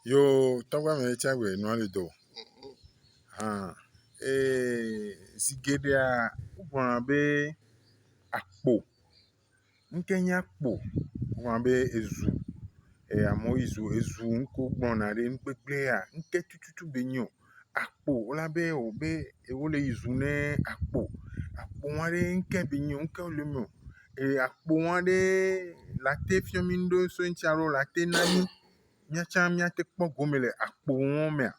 Yoo tɔgbe amɛ tsɛ be nua li do. Hɔn ee zi geɖea wogblɔna be akpo. Nu kɛ nye akpo? Wogblɔna be ezu. Ee amewo yi zu ezu nu ke wogblɔna ɖi nu kpekpea nu ke tututu be nyi o. akpo la be wò be yewo le yi zum ne akpo. Akpo ŋua ɖe ŋke be nyi ŋke wo le miɔ eye akpo ŋua ɖe late fiɔ mi ŋɖe so eŋtsi alo late na mi miatsa miate kpɔ gome le akpo ŋua mea.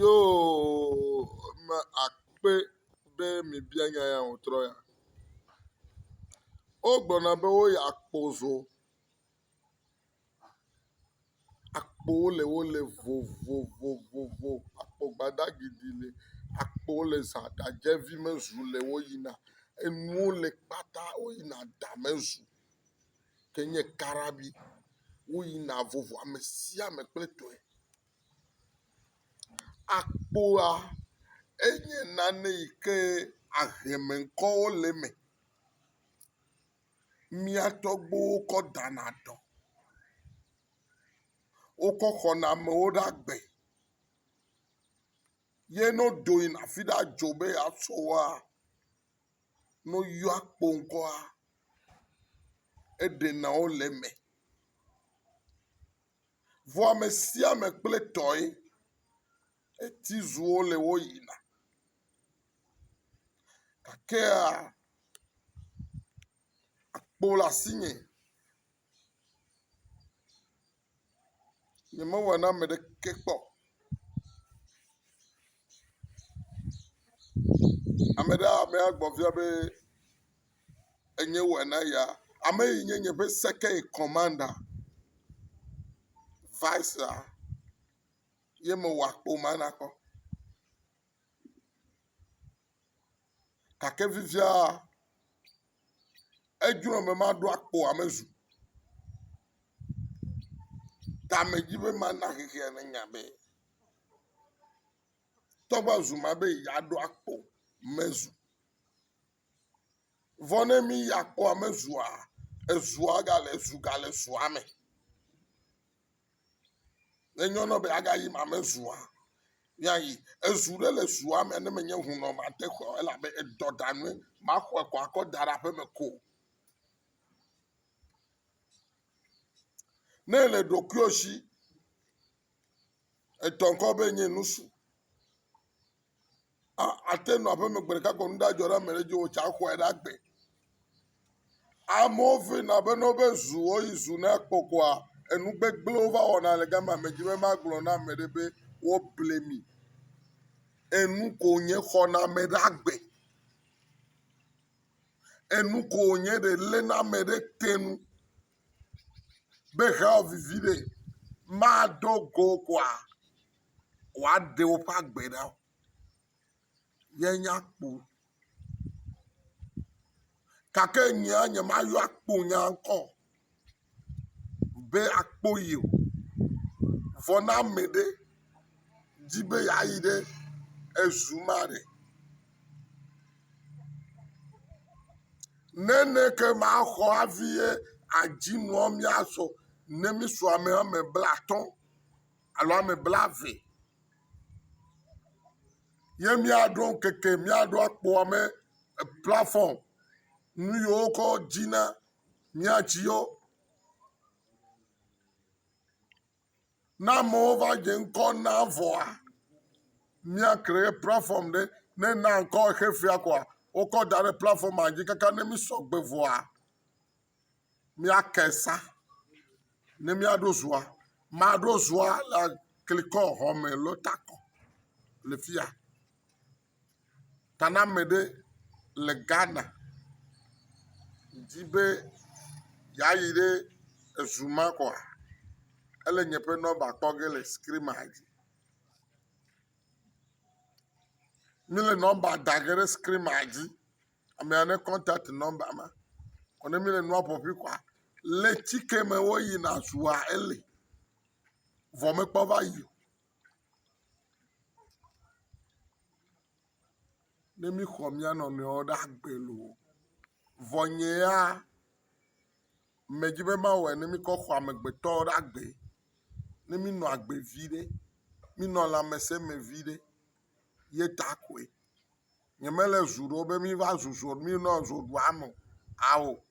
Yo me akpe be mi bia nya ya ŋutrɔ ya. Wogblɔna be woyi akpo zo. Akpowo le wo le vovovovo. Akpo gbadagbi ɖi li. Akpowo le za ɖadzevi me zu le wo yina. Enuwo le kpata wo yina da me zu ke nye karabi wo yina vovo ame sia ame kple etɔe. Akpoa enye nane yi ke ahleme ŋkɔwo le eme. mía tɔgbuiwo kɔ dana dɔ, wokɔ xɔna amewo ɖe agbe ye ne wodo yina afi ɖe adzo be yewoasɔ woa, ne woyɔa kpo ŋkɔa, eɖena wo le eme. Vɔ ame sia ame kple etɔe. Etizuwo le woyina. gakea akpo le asinye, nyemewɔe na ame ɖeke kpɔ o, ame ɖe ame agbɔ biae be enye wɔe na eya, ame yi nye nye ƒe second in commanda, vice ye mewɔ akpo ma na kpɔ. gake fifia edzro be maɖo akpo ame zu ta me dzi be mana xexea nanya be toa va zu ema be yeaɖo akpo ame zu. Vɔ ne mí ya kpɔ ame zua, ezua gale zu gale zua me. Ne nyɔ nɔ be agayi ma me zua, miayi. Ezu ɖe le zua me ne menye hunɔ mate xɔ elabe edɔ ɖa nue. Maxɔe kɔ akɔ da ɖe aƒe me ko. Ne le ɖokuiwo si, etɔ ŋkɔ be nye nusu. ate nɔ aƒeme gbe ɖeka gbe nu ɖadzɔ ɖe ame ɖe dzi o tsa exɔe ɖe agbe. Amewo fina be ne woƒe zu woyi zu na kpɔ koa enu gbegblẽwo va wɔna le gama me dzi be magblɔ na ame ɖe be woble mi. Enu ko wonye xɔna ame ɖe agbe. Enu ko wonye ɖe léna ame ɖe te nu be hewɔ vivi ɖe maɖo go o koa. woaɖe woƒe agbe ɖa o míanya kpo o gake nye nyemayɔ akpo nya ŋkɔ o be akpo ye o vɔ ne ame ɖe di be yeayi ɖe ezu ma ɖe, ne ne ke maxɔ hafi ye adzi nua míasɔ ne mísɔ ame woame blaatɔ̃. alo ame blaeve ye míaɖo ŋkeke míaɖo akpɔ ame plafɔm nu yi wokɔ dzina mía tsi yo. Ne amewo va dze ŋkɔ na vɔa mía kreye plafɔm ɖe ne na ŋkɔ xexea koa wokɔ da ɖe plafɔma dzi kaka ne mí sɔgbe vɔa. míake sa ne míaɖo zua. Maɖo zua le aklikɔ xɔme alo takɔ le fi ya. Taname ɖe le Ghana di be yeayi ɖe ezu ma kɔa, ele nye ƒe nɔmba kpɔ ge le skrinia dzi. Míle nɔmba da ge ɖe skrinia dzi. Amea ne kɔntat nɔmba ma vɔ ne mele nua ƒoƒui koa le tsi ke me woyina zua eli vɔ mekpɔ va yi o. Ne mixɔ mía nɔnɔewo ɖe agbe loo vɔ nye ya medi be mawɔe ne mikɔ xɔ amegbetɔwo ɖe agbe ne minɔ agbe viɖe minɔ lãmese me viɖe ye ta koe. Nye me le zu ɖɔ be mi va zu zɔ mi nɔ zɔ ɖu ame o. Ao.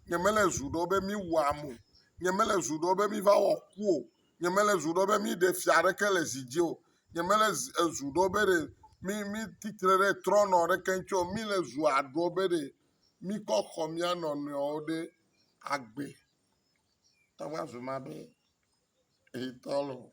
Nye me le zu ɖɔ be mi wu ame o. Nye me le zu ɖɔ be mi va wɔ ku o. Nye me le zu ɖɔ be mi ɖe fia ɖeke le zi dzi o. Nye me le zu ɖɔ be ɖe mi mi titre ɖe trɔ nɔ ɖeke ŋutsi o. Mi le zu aɖɔ be ɖe mi kɔ xɔ mia nɔ nɔewo ɖe agbe. Tɔ va zu ma be hitɔ lo.